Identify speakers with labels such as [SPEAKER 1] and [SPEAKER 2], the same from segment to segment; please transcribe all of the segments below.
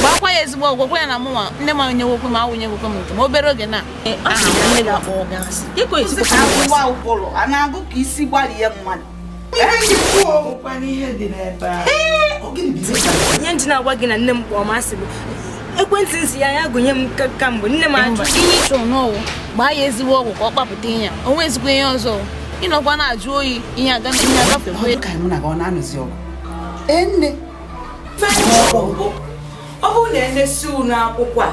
[SPEAKER 1] gbakwa ya ezigbo ọgwụgwọ ya na mụnwa nne m anyeghokwe m awụnyeghokwe m nke m obere oge na a na-agụ ka isi gbalie mmadụ ihe ndị na-agwa gị na nne m kpọọ masị bụ ekwentị nsi ya ya gụnye m ka- kamgbe nne m ajụ ihe ị chọrọ n'ọwụ gbaa ya ezigbo ọgwụ ka ọ kpapụta ihe ya o nwezikwa ihe ọzọ ị nọkwa na-ajụ oyi ihe aga ihe ọ agafekwa dị ka anyị mụ na gị ọ na-anụzi ọgụ ee nne ọ bụrụ na emesi unu akwụkwọ a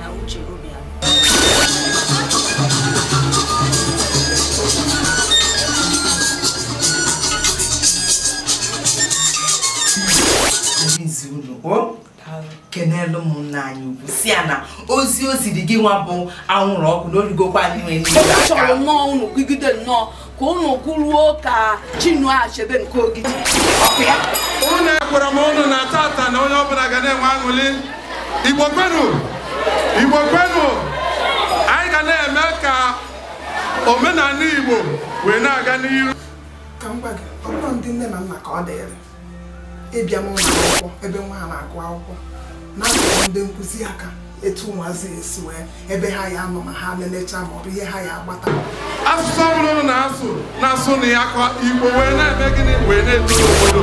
[SPEAKER 1] na uche obi ya izi unu o kenelu ụmụnna anyị ugwu sị ya na ozi o ziri gị nwa bụ anwụrụ ọkụ na o rigokwa anyị nwere ndị chọrọ nnọọ unu gụgide nnọọ ka ụnụ kwuruo ka Chinua Achebe nke Ogidi ọkụ ya ụnụ ekwere m ụnụ na taata na onye ọbụla ga na-enwe aṅụli Igbo kwenu Igbo kwenu anyị ga na-eme ka omenala Igbo wee na-aga n'iru ka m gwa gị ọ bụrụ ndị nne na nna ka ọ dịrị ịbịa n'ụlọ akwụkwọ ebe nwa ha na-agụ akwụkwọ na-atụrụ ndị nkụzi aka etu ụmụazị esi nwee ebe ha ya-anọ ma ha lelecha ma ọ bụ ihe ha ya-agbata asụsụ ọbụla ụnụ na-asụ na-asụ na ya ka Igbo wee na-eme gịnị wee na-eto n'obodo